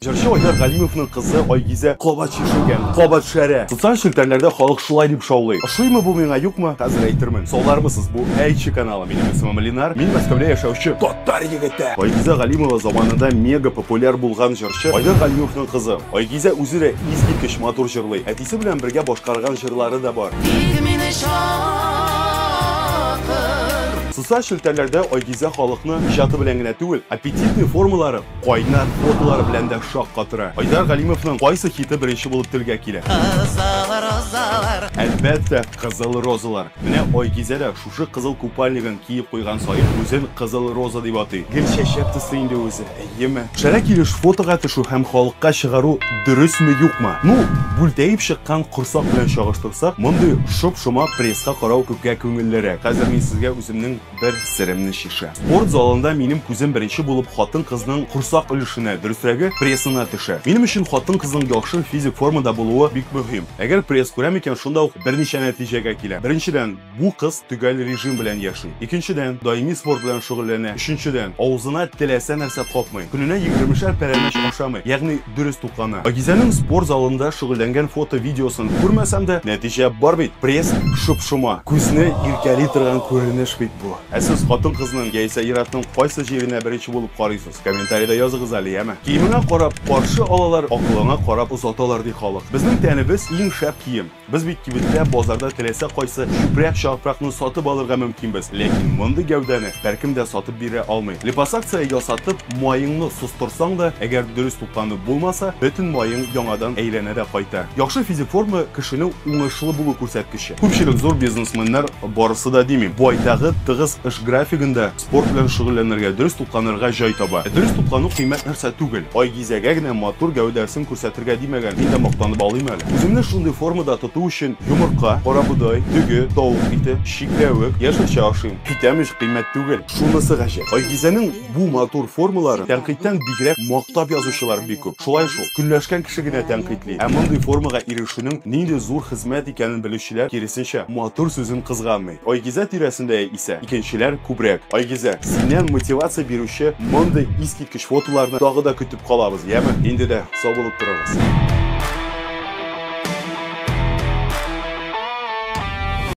Җырчы Айдар Галимовның кызы Айгизә кабат чишенгән, кабат шәрә. Социаль челтәрләрдә халык шулай дип шаулый. Ошыймы бу миңа, юкмы, хәзер әйтермен. Салдармысыз, бу Әйтче каналы. Минем исемем Ленар, мин Мәскәүдә яшәүче татар егете. Айгизә Галимова заманында мега популяр булган җырчы Айдар Галимовның кызы. Айгизә үзе дә искиткеч матур җырлый. Әтисе белән бергә башкарган җырлары да бар. Тик мине чакыр. Социаль челтәрләрдә Айгизә халыкны иҗаты белән генә түгел, аппетитный формалары, Кайнар кодлар белән дә шаккатыра. Айдар Галимовның кайсы хиты беренче булып телгә килә? Кызыл розалар. Әлбәттә, Кызыл розалар. Менә Айгизә дә шушы кызыл купальнигын киеп куйган саен үзен Кызыл роза дип атый. Гел чәчәк төсле инде үзе, әйеме? Шәрә килеш фотога төшү һәм халыкка чыгару дөресме, юкмы? Ну, бүлтәеп чыккан корсак белән чагыштырсак, мондый шоп-шома пресска карау күпкә күңеллерәк. Хәзер мин сезгә үземнең. бер серемне чишә. Спорт залында минем күзем беренче булып хатын-кызның корсак өлешенә, дөресрәге, прессына төшә. Минем өчен хатын-кызның яхшы физик формада булуы бик мөһим. Әгәр пресс күрәм икән, шунда ук берничә нәтиҗәгә киләм. Беренчедән, бу кыз төгәл режим белән яши. Икенчедән, даими спорт белән шөгыльләнә. Өченчедән, авызына теләсә нәрсә капмый. Көненә егермешәр пәрәмәч ашамый, ягъни дөрес туклана. Пакизәнең спорт залында шөгыльләнгән фото-видеосын күрмәсәм дә, нәтиҗә бар бит, пресс шоп-шома. Күзне иркәли торган күренеш бит бу. Ә сез хатын-кызның яисә ир-атның кайсы җиренә беренче булып карыйсыз? Комментарида языгыз әле, яме? Киемеңә карап каршы алалар, акылыңа карап озаталар, ди халык. Безнең тәнебез, иң шәп кием. Без бит кибеттә, базарда теләсә кайсы чүпрәк чапракны сатып алырга мөмкинбез. Ләкин мондый гәүдәне беркем дә сатып бирә алмый. Липосакция ясатып, маеңны состырсаң да, әгәр дөрес тукланып булмаса, бөтен маең яңадан әйләнә дә кайта. Яхшы физик форма кешенең уңышлы булу күрсәткече. Күпчелек зур бизнесменнар, барысы да димим, байтагы тыгыз эш графигында, Спорт белән шөгыльләнергә, дөрес тукланырга җай таба. Ә дөрес туклану кыйммәт нәрсә түгел. Айгизәгә генә матур гәүдәсен күрсәтергә димәгән, мин дә мактанып алыйм әле. Үземне шундый формада тоту өчен йомырка, карабодай, дөге, тавык ите, чикләвек, яшелчә ашыйм. Әйтәм ич, кыйммәт түгел. Шунысы гаҗәп, Айгизәнең бу матур формаларын тәнкыйтьтән бигрәк мактап язучылар бик күп. Шулай шул, көнләшкән кеше генә тәнкыйтьли, ә мондый формага ирешүнең нинди зур хезмәт икәнен белүчеләр, киресенчә, матур сүзен кызганмый. Айгизә тирәсендә исә икенчеләр күбрәк. Айгизә, синнән мотивация бирүче мондый искиткеч фотоларны тагы да көтеп калабыз, яме? Инде дә сау булып торыгыз.